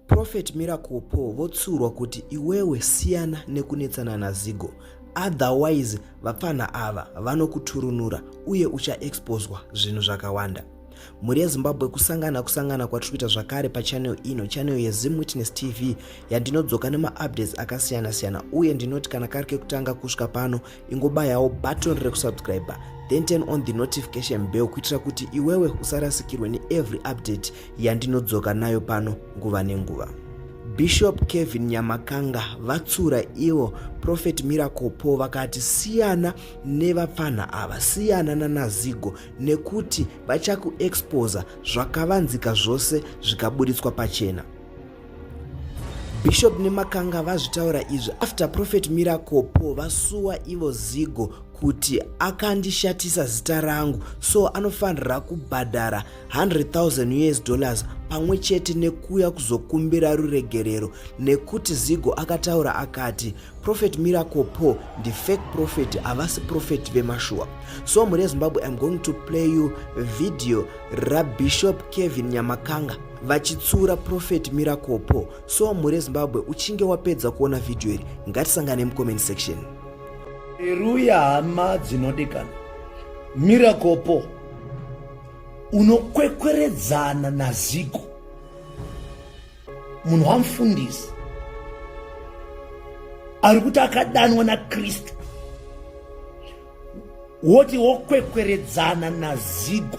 Prophet Miracle Paul votsurwa kuti iwewe siyana nekunetsana naZigo otherwise vapfanha ava vanokuturunura uye uchaexposwa zvinhu zvakawanda. Mhuri yeZimbabwe kusangana kusangana kwatiri kuita zvakare pachannel ino channel yeZim Witness TV yandinodzoka nemaupdates akasiyana siyana uye ndinoti kana kari kekutanga kusvika pano ingobayawo button rekusubscriber then turn on the notification bell kuitira kuti iwewe usarasikirwe neevery update yandinodzoka nayo pano nguva nenguva bishop kevin nyamakanga vatsura ivo profet miracle paul vakati siyana nevapfanha ava siyana nanazigo nekuti vachakuexposa zvakavanzika zvose zvikaburitswa pachena Bishop Nemakanga vazvitaura izvi after Prophet Miracle Paul vasuwa ivo zigo kuti akandishatisa zita rangu so anofanira kubhadhara 100,000 us dollars pamwe chete nekuuya kuzokumbira ruregerero nekuti zigo akataura akati Prophet Miracle Paul ndi fake prophet havasi prophet vemashuwa so mhuri yezimbabwe im going to play you video rabishop kevin nyamakanga vachitsura prophet Miracle Paul so mhuri yezimbabwe uchinge wapedza kuona vhidhiyo iri ngatisangane mucomment section eruya hama dzinodikana Miracle Paul unokwekweredzana naziko munhu wamufundisi ari kuti akadanwa nakristu woti wokwekweredzana nazigo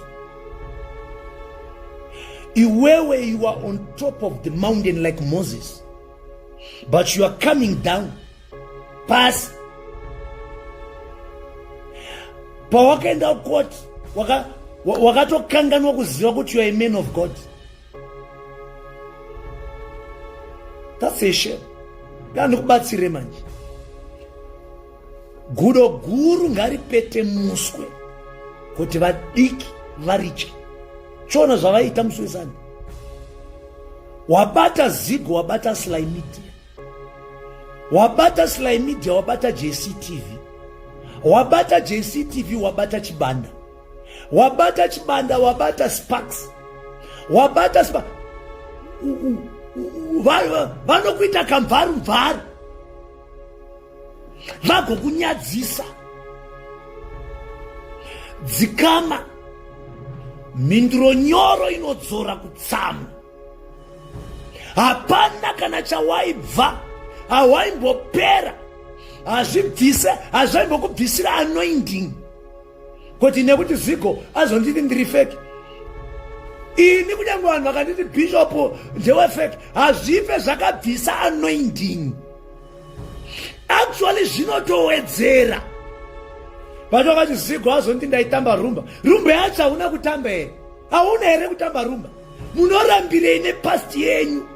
iwewe you are on top of the mountain like moses but you are coming down pasi pawakaenda kukoti wakatokanganwa waka kuziva kuti you are a man of god That's a shame. Ndikubatsire manje. Gudo guru ngaripete muswe kuti vadiki varitye. Chona zvavaita muswesani. Wabata zigo wabata Sly Media. Wabata Sly Media wabata JCTV. Wabata JCTV wabata Chibanda. wabata chibanda wabata sparks wabata spa vanokuita kamvaru mvaru vagokunyadzisa dzikama mhinduro nyoro inodzora kutsamwa hapana kana chawaibva hawaimbopera hazvibvise hazvaimbokubvisira anoinding kuti nekuti zigo azonditi ndiri feki ini kunyange vanhu vakanditi bishopu ndewefeki hazvife zvakabvisa anointing actually zvinotowedzera vati vakati zigo hazonditi ndaitamba rumba rumba yacho hauna kutamba here hauna here kutamba rumba munorambirei nepasti yenyu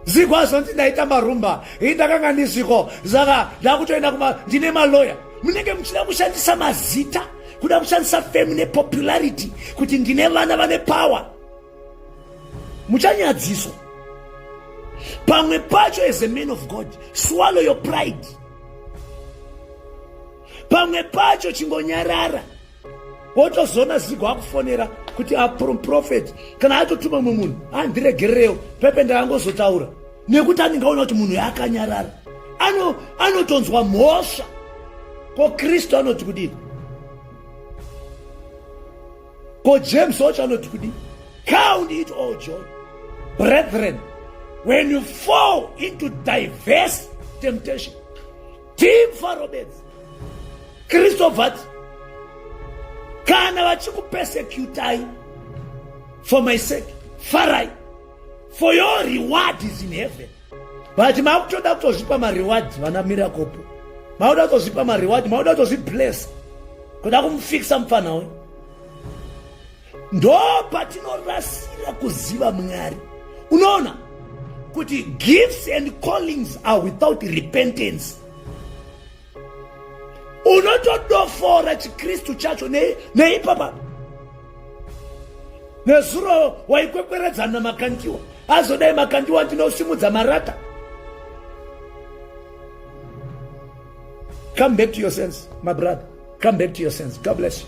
ziko azonzi ndaita marumba ii ndakanga ndiziko saka ndakutoenda kuma ndine maloya munenge muchida kushandisa mazita kuda kushandisa fame nepopularity kuti ndine vana vane power muchanyadziswa pamwe pacho as a man of god swallow your pride pamwe pacho chingonyarara wotozoona zigo akufonera kuti aproprofet kana atotuma mumwe munhu andiregererewo pepe ndaangozotaura nekuti anenge aona kuti munhu yaakanyarara anotonzwa ano mhosva ko kristu anoti kudii ko james wacho anoti kudii count it all joy brethren when you fall into diverse temptation Team Faro Bedzi Kristo vati kana vachikupesecutai for my sake farai for your reward is in heaven but makutoda kutozvipa mareward vana mirakopo makuda kutozvipa mareward makuda kutozvibless kuda kumufikisa mupfanha uyu ndo patinorasira kuziva mwari unoona kuti gifts and callings are without repentance unotodofora chikristu chacho neipapa ne nezuro waikwekweredzana makandiwa azodai makandiwa ndinosimudza marata come back to your sense my brother come back to your sense god bless you